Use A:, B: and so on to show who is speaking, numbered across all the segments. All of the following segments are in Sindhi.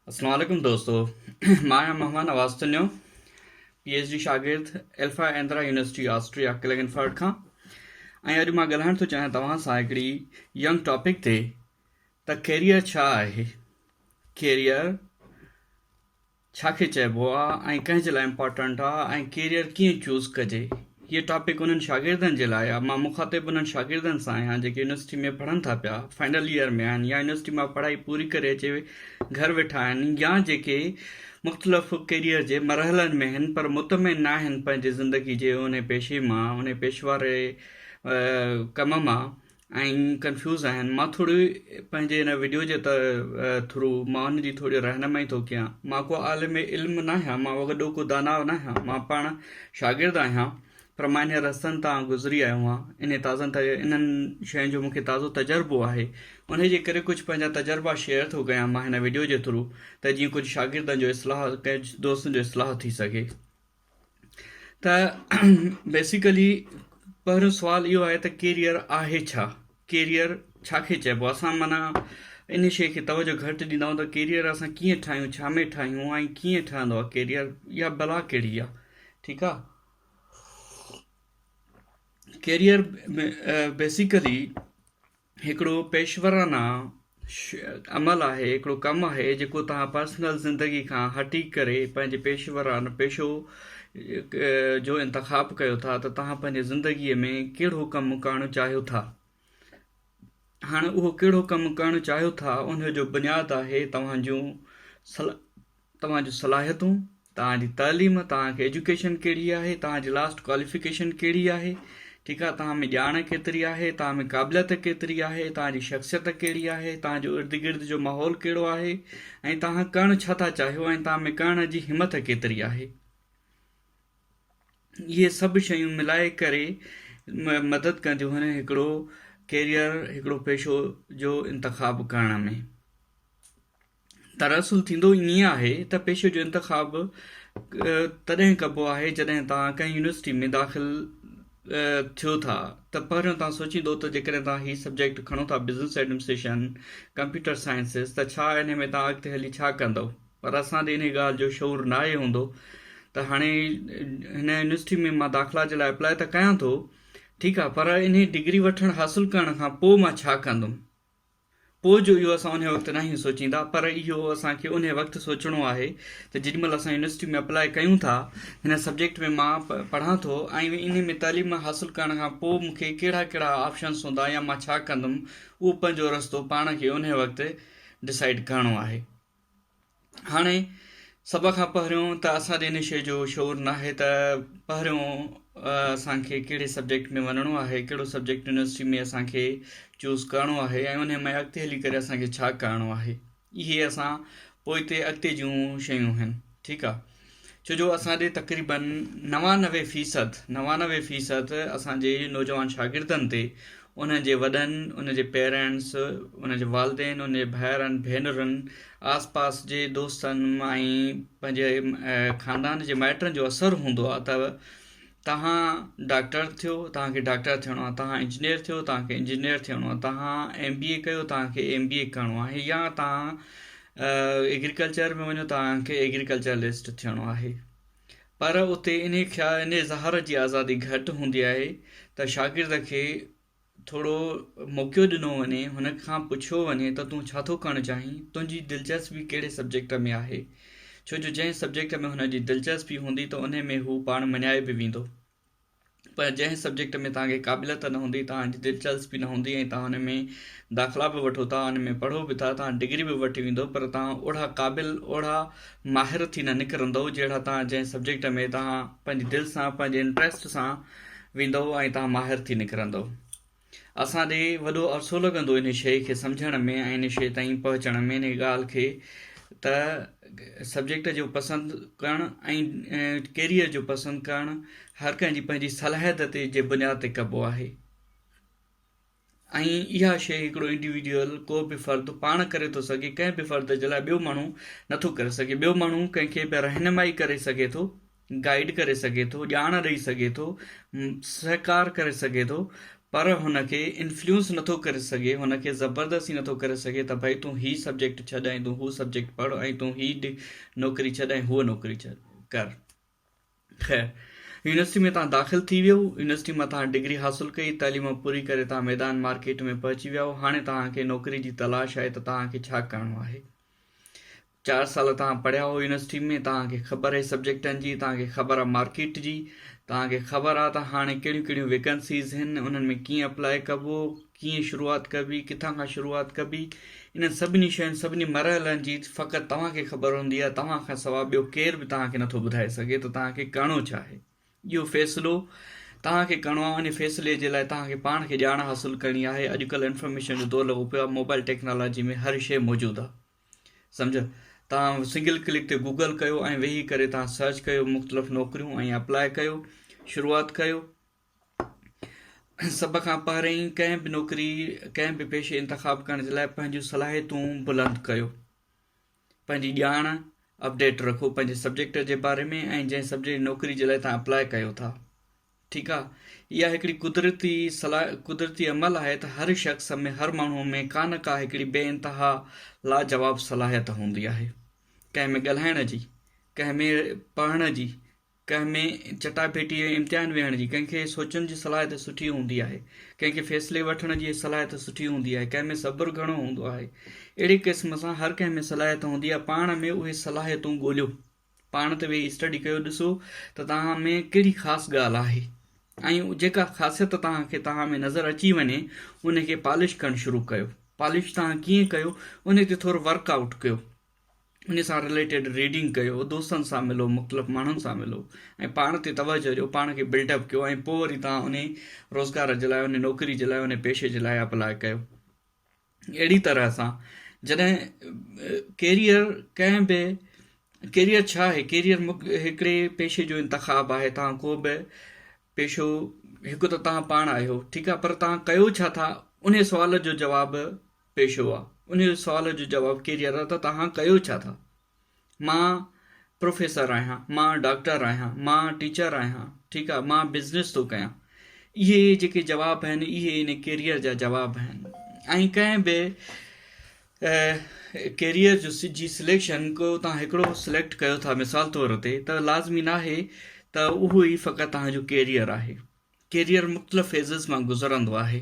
A: السلام عليڪم دوستو مان آهيان Mehman Nawaz Channo P H D شاگرد Alpen Adria university Austria Klagenfurt کان ۽ اڄ مان ڳالهائڻ ٿو چاهيان توهان سان هڪڙي ينگ ٽاپڪ تي ته ڪيريئر ڇا آهي ڪيريئر ڇا کي چئبو آ ۽ ڪنهن جي لاء امپارٽنٽ آ ۽ ڪيريئر ڪيئن چوز ڪجي هيء ٽاپڪ انهن شاگردن جي لاء آ مان مخاطب انهن شاگردن سان آهيان جيڪي يونيورسٽي ۾ پڙهن ٿا پيا فائنل ييئر ۾ آهن يا يونيورسٽي مان پڙهائي پوري ڪري اچي گهر ويٺا آهن يا جيڪي مختلف ڪيريئر جي مرحلن ۾ هن پر مطمئن ناهن پنهنجي زندگي جي انهي پيشي مان انهي پيشواري ڪم مان ۽ ڪنفيوز آهن مان ٿوري پنهنجي ان وڊيو جي ٿرو مان ان جي ٿوري رهنمائي ٿو ڪيان مان ڪو عالم علم ناهيان مان وڏو ڪو داناء ناهيان مان پاڻ شاگرد آهيان پر مان انهن رستن تان گذري آيو آهيان انهن تازن انهن شين جو مون کي تازو تجربو آهي انهي جي ڪري ڪجهه پنهنجا تجربا شيئر ٿو ڪيان مان هن وڊيو جي ٿرو ته جيئن ڪجهه شاگردن جو اصلاح ڪجهه دوستن جو اصلاح ٿي سگهي. ته بيسيڪلي پهريون سوال اهو آهي ته ڪيريئر آهي ڇا ڪيريئر ڇا کي چئبو آهي اسان معنيٰ ان شيء کي توجه گهٽ ڏيندا آهيون ته ڪيريئر اسان ڪيئن ٺاهيون ڇا ۾ ٺاهيون ۽ ڪيئن ٺهندو آهي ڪيريئر يا بلا ڪهڙي آهي ٺيڪ آهي ڪيريئر بيسيڪلي هڪڙو پيشورانه عمل آهي، هڪڙو ڪم آهي جيڪو توهان پرسنل زندگي کان هٽي ڪري پنهنجي پيشورانه پيشو جو انتخاب ڪيو ٿا ته توهان پنهنجي زندگي ۾ ڪهڙو ڪم ڪرڻ چاهيو ٿا. هاڻ اهو ڪهڙو ڪم ڪرڻ چاهيو ٿا ان جو بنياد آهي توهان جون توهان جون صلاحيتون، توهان جي تعليم، توهان کي ايجوڪيشن ڪهڙي آهي، توهان جي لاسٽ ڪواليفڪيشن ڪهڙي آهي، ٺيڪ آهي، توهان ۾ ڄاڻ ڪيتري آهي، توهان ۾ قابليت ڪيتري آهي، توهان جي شخصيت ڪهڙي آهي، توهان جو ارد گرد جو ماحول ڪهڙو آهي ۽ توهان ڪرڻ ڇا ٿا چاهيو ۽ توهان ۾ ڪرڻ جي همٿ ڪيتري آهي. اهي سڀ شيون ملائي ڪري مدد ڪنديون آهن هڪڙو ڪيريئر هڪڙو پيشو جو انتخاب ڪرڻ ۾. دراصل ٿيندو ائين آهي ته پيشي جو انتخاب تڏهن ڪبو آهي جڏهن توهان ڪنهن يونيورسٽي ۾ داخل ٿيو ٿا ته پهريون توهان سوچيندو ته جيڪڏهن توهان هي سبجيڪٽ کڻو ٿا بزنس ايڊمنسٽريشن، ڪمپيوٽر سائنسز ته ڇا انهي ۾ توهان اڳتي هلي ڇا ڪندؤ پر اسان ڏي انهي ڳالهه جو شعور ناهي هوندو ته هاڻي هن يونيورسٽي ۾ مان داخلا جي لاء اپلاء ته ڪيان ٿو ٺيڪ آهي پر انهي ڊگري وٺڻ حاصل ڪرڻ کان پوء مان ڇا ڪندم؟ پوء جو اهو اسان انهي وقت ناهيون سوچيندا پر اهو اسان کي انهي وقت سوچڻو آهي ته جيڏي مهل اسان يونيورسٽي ۾ اپلائي ڪيون ٿا هن سبجيڪٽ ۾ مان پڙهان ٿو ۽ انهي ۾ تعليم حاصل ڪرڻ کان پوء مون کي ڪهڙا ڪهڙا آپشنس هوندا يا مان ڇا ڪندم اهو پنهنجو رستو پاڻ کي انهي وقت ڊسائيڊ ڪرڻو آهي هاڻي سڀ کان پهريون ته اسان جي ان شيء جو شعور ناهي ته پهريون اسان کي ڪهڙي سبجيڪٽ ۾ وڃڻو آهي ڪهڙو سبجيڪٽ يونيورسٽي ۾ اسان کي چوز ڪرڻو آهي ۽ ان ۾ اڳتي هلي ڪري اسان کي ڇا ڪرڻو آهي اهي اسان پوئتي اڳتي جون شيون آهن ٺيڪ آهي ڇو جو اسان ڏي تقريباً نوانوي فيصد نوانوي فيصد اسانجي نوجوان شاگردن تي انهن جي وڏن انهن جي پيرينٽس انهن جي والدين انهن جي ڀائرن ڀينرن آس پاس جي دوستن ۽ پنهنجي خاندان جي مائٽن جو اثر هوندو آهي ته توهان ڊاڪٽر ٿيو توهان کي ڊاڪٽر ٿيڻو آهي توهان انجنيئر ٿيو توهان کي انجنيئر ٿيڻو آهي توهان ايم بي اي ڪيو توهان کي ايم بي اي ڪرڻو آهي يا توهان ايگريڪلچر ۾ وڃو توهان کي ايگريڪلچرلسٽ ٿيڻو آهي پر اتي انهي خيال انهي اظهار جي آزادي گهٽ هوندي آهي ته شاگرد کي ٿورو موقعو ڏنو وڃي هن کان پڇيو وڃي ته تون ڇا ٿو ڪرڻ چاهين تنهنجي دلچسپي ڪهڙي سبجيڪٽ ۾ آهي ڇو جو جنهن سبجيڪٽ ۾ هن جي دلچسپي هوندي ته انهي ۾ هو پاڻ مڃائي به ويندو پر جنهن سبجيڪٽ ۾ توهان کي قابليت ته نه هوندي، توهان جي دلچسپي نه هوندي ۽ توهان ان ۾ داخلا به وٺو ٿا، ان ۾ پڙهو به ٿا، توهان ڊگري به وٺي ويندؤ پر توهان اوڙها قابل، اوڙها ماهر ٿي نه نڪرندؤ جهڙا توهان جنهن سبجيڪٽ ۾ توهان پنهنجي دل سان، پنهنجي انٽريسٽ سان ويندؤ ۽ توهان ماهر ٿي نڪرندؤ. اسان ڏي وڏو عرصو لڳندو انهي شيء کي سمجهڻ ۾ ۽ انهي شيء تائين پهچڻ ۾ انهي ڳالهه کي ته سبجيڪٽ جو پسند ڪرڻ ۽ ڪيريئر جو پسند ڪرڻ هر ڪنهن جي پنهنجي صلاحيت تي جي بنياد تي ڪبو آهي ۽ اها شيء هڪڙو انڊيوڊيول ڪو به فرد پاڻ ڪري ٿو سگهي ڪنهن به فرد جي لاء ٻيو ماڻهو نٿو ڪري سگهي ٻيو ماڻهو ڪنهن کي به رهنمائي ڪري سگهي ٿو گائيڊ ڪري سگهي ٿو، ڄاڻ ڏئي سگهي ٿو، سهڪار ڪري سگهي ٿو پر هن کي انفليونس نٿو ڪري سگهي، هن کي زبردستي نٿو ڪري سگهي ته ڀئي تون هي سبجيڪٽ ڇڏ ۽ تون هو سبجيڪٽ پڙهه ۽ تون هي نوڪري ڇڏ ۽ هوء نوڪري ڪر. خير يونيورسٽي ۾ تان داخل ٿي ويئو، يونيورسٽي مان تان ڊگري حاصل ڪئي، تعليم پوري ڪري تان ميدان مارڪيٽ ۾ پهچي ويئو، هاڻي تان کي نوڪري جي تلاش آهي ته تان کي ڇا ڪرڻو آهي؟ چار سال تان پڙهيا هو يونيورسٽي ۾ تان کي خبر آهي سبجيڪٽن جي تان کي خبر آهي مارڪيٽ جي تان کي خبر آهي ته هاڻي ڪهڙيون ڪهڙيون ويڪنسيز هن انهن ۾ ڪيئن اپلاء ڪبو ڪيئن شروعات ڪبي ڪٿان کان شروعات ڪبي انهن سڀني شين سڀني مرحلن جي فقط تان کي خبر هوندي آهي تان کان سوا ٻيو ڪير به تان کي نٿو ٻڌائي سگهي ته تان کي ڪرڻو ڇا آهي اهو فيصلو توهان کي ڪرڻو آهي، ان فيصلي جي لاء توهان کي پاڻ کي ڄاڻ حاصل ڪرڻي آهي، اڄڪلهه انفارميشن جو دور لڳو پيو آهي، موبائل ٽيڪنالاجي ۾ هر شيء موجود آهي، سمجهيو، توهان سنگل ڪلڪ تي گوگل ڪيو ۽ ويهي ڪري توهان سرچ ڪيو مختلف نوڪريون ۽ اپلاء ڪيو، شروعات ڪيو، سڀ کان پهرئين ڪنهن به نوڪري ڪنهن به پيشي انتخاب ڪرڻ جي لاء پنهنجون صلاحيتون بلند ڪيو. پنهنجي ڄاڻ اپڊيٽ رکو پنهنجي سبجيڪٽ جي باري ۾ ۽ جنهن سبجيڪٽ نوڪري جي لاء تان اپلاء ڪيو ٿا ٺيڪ آ اها هڪڙي قدرتي صلاح قدرتي عمل آهي ته هر شخص ۾ هر ماڻهو ۾ ڪا نه ڪا هڪڙي بي انتها لاجواب صلاحيت هوندي آهي ڪنهن ۾ ڳالهائڻ جي ڪنهن ۾ پڙهڻ جي ڪنهن ۾ چٽاڀيٽي ۽ امتحان ويهڻ جي، ڪنهن کي سوچڻ جي صلاحيت سٺي هوندي آهي، ڪنهن کي فيصلي وٺڻ جي صلاحيت سٺي هوندي آهي، ڪنهن ۾ صبر گهڻو هوندو آهي. اهڙي قسم سان هر ڪنهن ۾ صلاحيت هوندي آهي، پاڻ ۾ اهي صلاحيتون ڳوليو. پاڻ تي ويهي اسٽڊي ڪيو، ڏسو ته توهان ۾ ڪهڙي خاص ڳالهه آهي ۽ جيڪا خاصيت توهان کي توهان ۾ نظر اچي وڃي ان کي پالش ڪرڻ شروع ڪيو. پالش توهان ڪيئن ڪيو ان تي ٿورو ورڪ آئوٽ ڪيو. ان سان رليٽيڊ ريڊنگ ڪيو، دوستن سان ملو، مختلف ماڻهن سان ملو ۽ پاڻ تي توجهه ڏيو، پاڻ کي بلڊ اپ ڪيو ۽ پوء وري توهان انهي روزگار جي لاء، انهي نوڪري جي لاء، انهي پيشي جي لاء اپلاء ڪيو. اهڙي طرح سان جڏهن ڪيريئر ڪنهن به ڪيريئر ڇا آهي؟ ڪيريئر هڪڙي پيشي جو انتخاب آهي، توهان ڪو به پيشو هڪ ته توهان پاڻ آهيو ٺيڪ آهي پر توهان ڪيو ڇا ٿا؟ انهي سوال جو جواب پيش هئا. انهيء سوال جو جواب ڪيريئر ته توهان ڪيو ڇا ٿا؟ مان پروفيسر آهيان، مان ڊاڪٽر آهيان، مان ٽيچر آهيان، ٺيڪ آهي، مان بزنس ٿو ڪيان. اهي جيڪي جواب آهن، اهي ان ڪيريئر جا جواب آهن ۽ ڪنهن به ڪيريئر جو جي سليڪشن ڪو توهان هڪڙو سليڪٽ ڪيو ٿا مثال طور تي ته لازمي ناهي ته اهو ئي فقط توهان جو ڪيريئر آهي. ڪيريئر مختلف فيزز مان گذرندو آهي.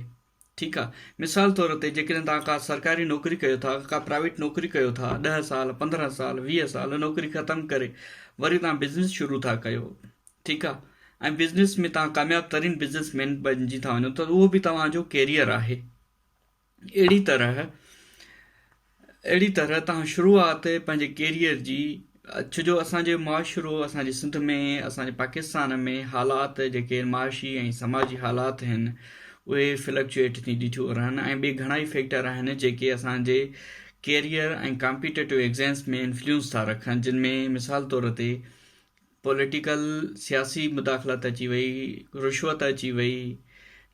A: ٺيڪ آ مثال طور تي جيڪڏهن توهان ڪا سرڪاري نوڪري ڪيو ٿا ڪا پرائيويٽ نوڪري ڪيو ٿا ڏهه سال پندرهن سال ويهه سال نوڪري ختم ڪري وري توهان بزنس شروع ٿا ڪيو ٺيڪ آ ۽ بزنس ۾ توهان ڪامياب ترين بزنس مين بنجي ٿا وڃو ته اهو به توهان جو ڪيريئر آهي اهڙي طرح اهڙي طرح توهان شروعات پنهنجي ڪيريئر جي ڇو جو اسان جي معاشرو اسان جي سنڌ ۾ اسان جي پاڪستان ۾ حالات جيڪي معاشي ۽ سماجي حالات هن اهي فلڪچوئيٽ ٿيندي ٿيو رهن ۽ ٻي گهڻائي فيڪٽر آهن جيڪي اسان جي ڪيريئر ۽ ڪامپيٽيٽو ايگزيمس ۾ انفليونس ٿا رکن جن ۾ مثال طور تي پوليٽيڪل سياسي مداخلت اچي وئي، رشوت اچي وئي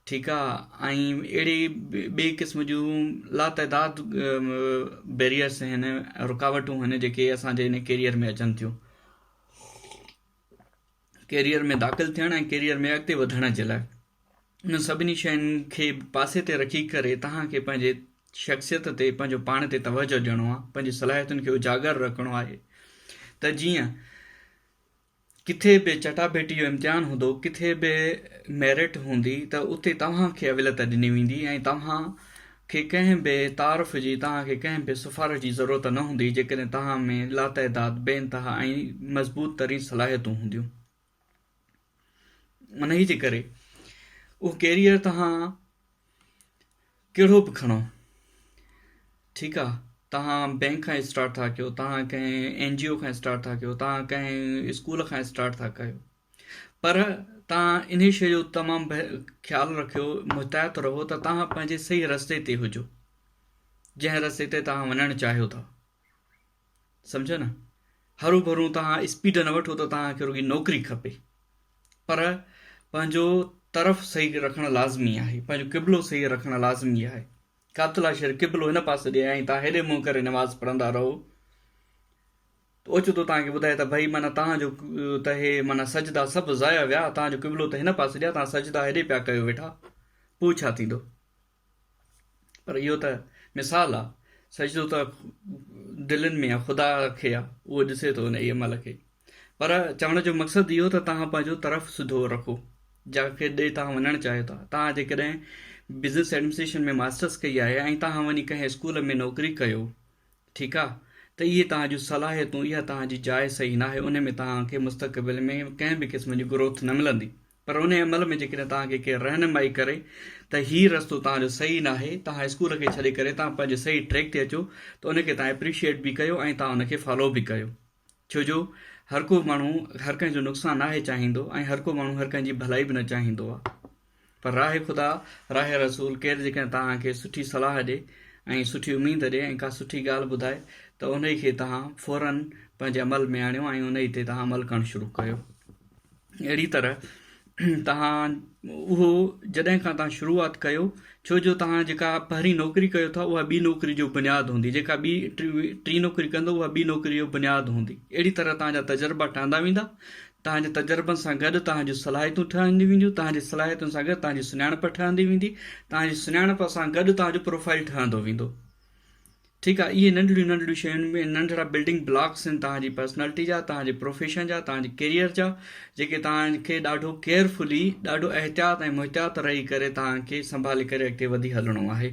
A: ٺيڪ آ ۽ اهڙي ٻئي قسم جون لا تعداد بيريئرس آهن رڪاوٽون آهن جيڪي اسان جي ان ڪيريئر ۾ اچن ٿيون ڪيريئر ۾ داخل ٿيڻ ۽ ڪيريئر ۾ اڳتي وڌڻ جي لاء انهن سڀني شين کي پاسي تي رکي ڪري توهان کي پنهنجي شخصيت تي پنهنجو پاڻ تي توجه ڏيڻو آهي پنهنجي صلاحيتن کي اجاگر رکڻو آهي ته جيئن ڪٿي به چٽاڀيٽي جو امتحان هوندو ڪٿي به ميرٽ هوندي ته اتي توهان کي اوليت ڏني ويندي ۽ توهان کي ڪنهن به تعارف جي توهان کي ڪنهن به سفارش جي ضرورت نه هوندي جيڪڏهن توهان ۾ لاتعداد بي انتها ۽ مضبوط ترين صلاحيتون هونديون انهيء جي ڪري اهو ڪيريئر توهان ڪهڙو به کڻو ٺيڪ آ توهان بينڪ کان اسٽارٽ ٿا ڪيو توهان ڪنهن اين جي او کان اسٽارٽ ٿا ڪيو توهان ڪنهن اسڪول کان اسٽارٽ ٿا ڪيو پر توهان انهي شيء جو تمام خيال رکيو محتاط رهو ته توهان پنهنجي صحيح رستي تي هجو جنهن رستي تي توهان وڃڻ چاهيو ٿا سمجهيو نه هرون ڀرون توهان اسپيڊ نه وٺو ته توهان کي رڳي نوڪري کپي پر پنهنجو طرف صحيح رکڻ لازمي آهي پنهنجو قبلو صحيح رکڻ لازمي آهي قابطلا شهر قبلو هن پاسي ڏي ۽ توهان هيڏي منهن ڪري نماز پڙهندا رهو اوچتو توهان کي ٻڌائي ته ڀائي مانا توهان جو ته هي مانا سجدا سڀ ضايع ويا توهان جو قبلو ته هن پاسي ڏي توهان سجدا هيڏي پيا ڪيو ويٺا پوء ڇا ٿيندو پر اهو ته مثال آ، سجدو ته دلين ۾ آ، خدا کي آ، اهو ڏسي ٿو ان اي عمل کي. پر چوڻ جو مقصد اهو ته توهان پنهنجو طرف سڌو رکو، جنهن کي ڏي توهان وڃڻ چاهيو ٿا. توهان جيڪڏهن بزنس ايڊمنسٽريشن ۾ ماسٽرس ڪئي آهي ۽ توهان وڃي ڪنهن اسڪول ۾ نوڪري ڪيو، ٺيڪ آ، ته اهي توهان جون صلاحيتون، اها توهان جي جاء صحيح ناهي، ان ۾ توهان کي مستقبل ۾ ڪنهن به قسم جي گروٿ نه ملندي. پر انهيء عمل ۾ جيڪڏهن توهان کي ڪير رهنمائي ڪري ته هي رستو توهان جو صحيح ناهي، توهان اسڪول کي ڇڏي ڪري توهان پنهنجي صحيح ٽريڪ تي اچو ته ان کي توهان اپريشيئيٽ به ڪيو ۽ توهان ان کي فالو به ڪيو. ڇو جو هر ڪو ماڻهو هر ڪنهن جو نقصان ناهي چاهيندو ۽ هر ڪو ماڻهو هر ڪنهن جي ڀلائي به نه چاهيندو آهي. پر راهي خدا، راهي رسول ڪير جيڪڏهن توهان کي سٺي صلاح ڏي ۽ سٺي اميد ڏي ۽ ڪا سٺي ڳالهه ٻڌائي ته انهي کي توهان فوراً پنهنجي عمل ۾ آڻيو ۽ انهي تي توهان عمل ڪرڻ شروع ڪيو. اهڙي طرح توهان اهو جڏهن کان توهان شروعات ڪيو ڇو جو توهان جيڪا پهرين نوڪري ڪيو ٿا اها ٻي نوڪري جو بنياد هوندي جيڪا ٻي ٽي نوڪري ڪندو اها ٻي نوڪري جو بنياد هوندي اهڙي طرح توهان جا تجربا ٺهندا ويندا توهان جي تجربن سان گڏ توهان جون صلاحيتون ٺهنديون وينديون توهان جي صلاحيتن سان گڏ توهان جي سڃاڻپ ٺهندي ويندي توهان جي سڃاڻپ سان گڏ توهان جو پروفائل ٺهندو ويندو ٺيڪ آهي اهي ننڍڙيون ننڍڙيون شيون ۽ ننڍڙا بلڊنگ بلاڪس آهن توهان جي پرسنالٽي جا، توهان جي پروفيشن جا، توهان جي ڪيريئر جا جيڪي توهان کي ڏاڍو ڪيئرفلي، ڏاڍو احتياط ۽ محتاط رهي ڪري توهان کي سنڀالي ڪري اڳتي وڌي هلڻو آهي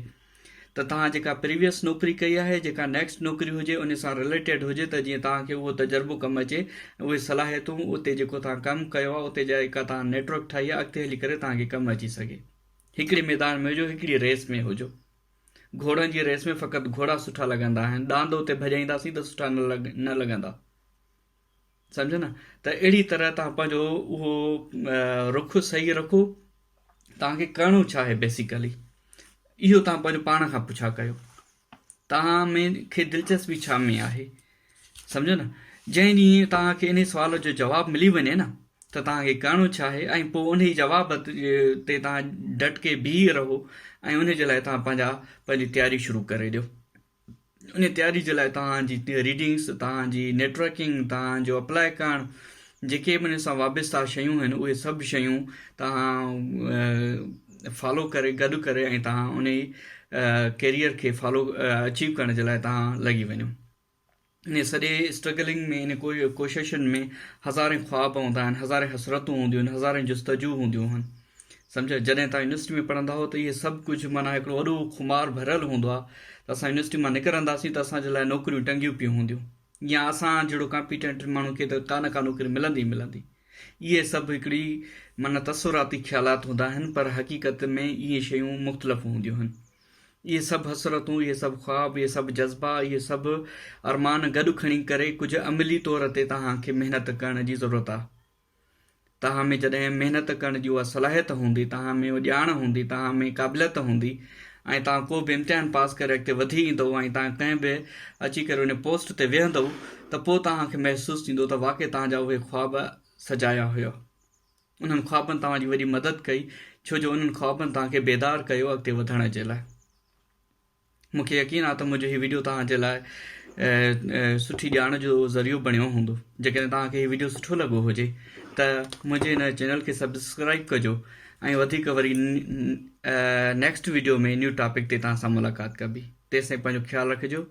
A: ته توهان جيڪا پريويس نوڪري ڪئي آهي جيڪا نيڪسٽ نوڪري هجي ان سان رليٽيڊ هجي ته جيئن توهان کي اهو تجربو ڪم اچي ۽ اهي صلاحيتون اتي جيڪو توهان ڪم ڪيو آهي اتي جا جيڪا توهان نيٽورڪ ٺاهي آهي اڳتي هلي ڪري توهان کي ڪم اچي سگهي هڪڙي ميدان ۾ هجو هڪڙي ريس ۾ هجو. گهوڙن جي ريس ۾ فقط گهوڙا سٺا لڳندا آهن ڏاند اتي ڀڄائينداسين ته سٺا نه لڳندا سمجهو نه ته اهڙي طرح تان پنهنجو اهو رخ صحيح رکو تانکي ڪرڻو ڇا آهي بيسيڪلي اهو تان پنهنجو پاڻ کان پڇا ڪيو تان ۾ کي دلچسپي ڇا ۾ آهي سمجهيو نه؟ جنهن ڏينهن توهان کي انهي سوال جو جواب ملي وڃي نه ته توهان کي ڪرڻو ڇا آهي ۽ پوء انهي جواب تي توهان ڊٽ ڪي بيهي رهو ۽ انهي جي لاء توهان پنهنجا پنهنجي تياري شروع ڪري ڏيو. انهي تياري جي لاء توهان جي ريڊنگس، توهان جي نيٽورڪنگ، توهان جو اپلاء ڪرڻ، جيڪي به انهي سان وابسته شيون آهن اهي سڀ شيون توهان فالو ڪري گڏ ڪري ۽ توهان انهي ڪيريئر کي فالو اچيو ڪرڻ جي لاء توهان لڳي وڃو. انهيء سڄي اسٽرگلنگ ۾ انهن ڪوششن ۾ هزارين خواب هوندا آهن، هزارين حسرتون هونديون آهن، هزارين جستجو هونديون آهن. سمجهيو؟ جڏهن توهان يونيورسٽي ۾ پڙهندا هئو ته اهي سڀ ڪجهه معنيٰ هڪڙو وڏو خمار ڀريل هوندو آهي ته اسان يونيورسٽي مان نڪرنداسين ته اسان جي لاء نوڪريون ٽنگيون پيون هونديون يا اسان جهڙو ڪامپيٽنٽ ماڻهو کي ته ڪا نه ڪا نوڪري ملندي ئي ملندي. اهي سڀ هڪڙي معنيٰ تصوراتي خيالات هوندا آهن پر حقيقت ۾ اهي شيون مختلف هونديون آهن. اهي سڀ حسرتون، اهي سڀ خواب، اهي سڀ جذبا، اهي سڀ ارمان گڏ کڻي ڪري ڪجهه عملي طور تي توهان کي محنت ڪرڻ جي ضرورت آهي. توهان ۾ جڏهن محنت ڪرڻ جي اها صلاحيت هوندي، توهان ۾ اها ڄاڻ هوندي، توهان ۾ قابليت هوندي ۽ توهان ڪو به امتحان پاس ڪري اڳتي وڌي ايندؤ ۽ توهان ڪنهن به اچي ڪري ان پوسٽ تي ويهندؤ ته پوء توهان کي محسوس ٿيندو ته واقعي توهان جا اهي خواب سجايا هيا. انهن خوابن توهان جي وڏي مدد ڪئي ڇو جو انهن خوابن توهان کي بيدار ڪيو اڳتي وڌڻ جي لاء. مون کي يقين آهي ته منهنجو هي وڊيو توهان جي لاء سٺي ڄاڻ جو ذريعو بڻيو هوندو. جيڪڏهن توهان کي هي وڊيو سٺو لڳو هجي ته منهنجي هن چينل کي سبسڪرائيب ڪجو ۽ وڌيڪ وري نيڪسٽ وڊيو ۾ نيو ٽاپڪ تي توهان سان ملاقات ڪبي. تيستائين پنهنجو خيال رکجو.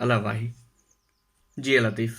A: الله واهي. جي لطيف.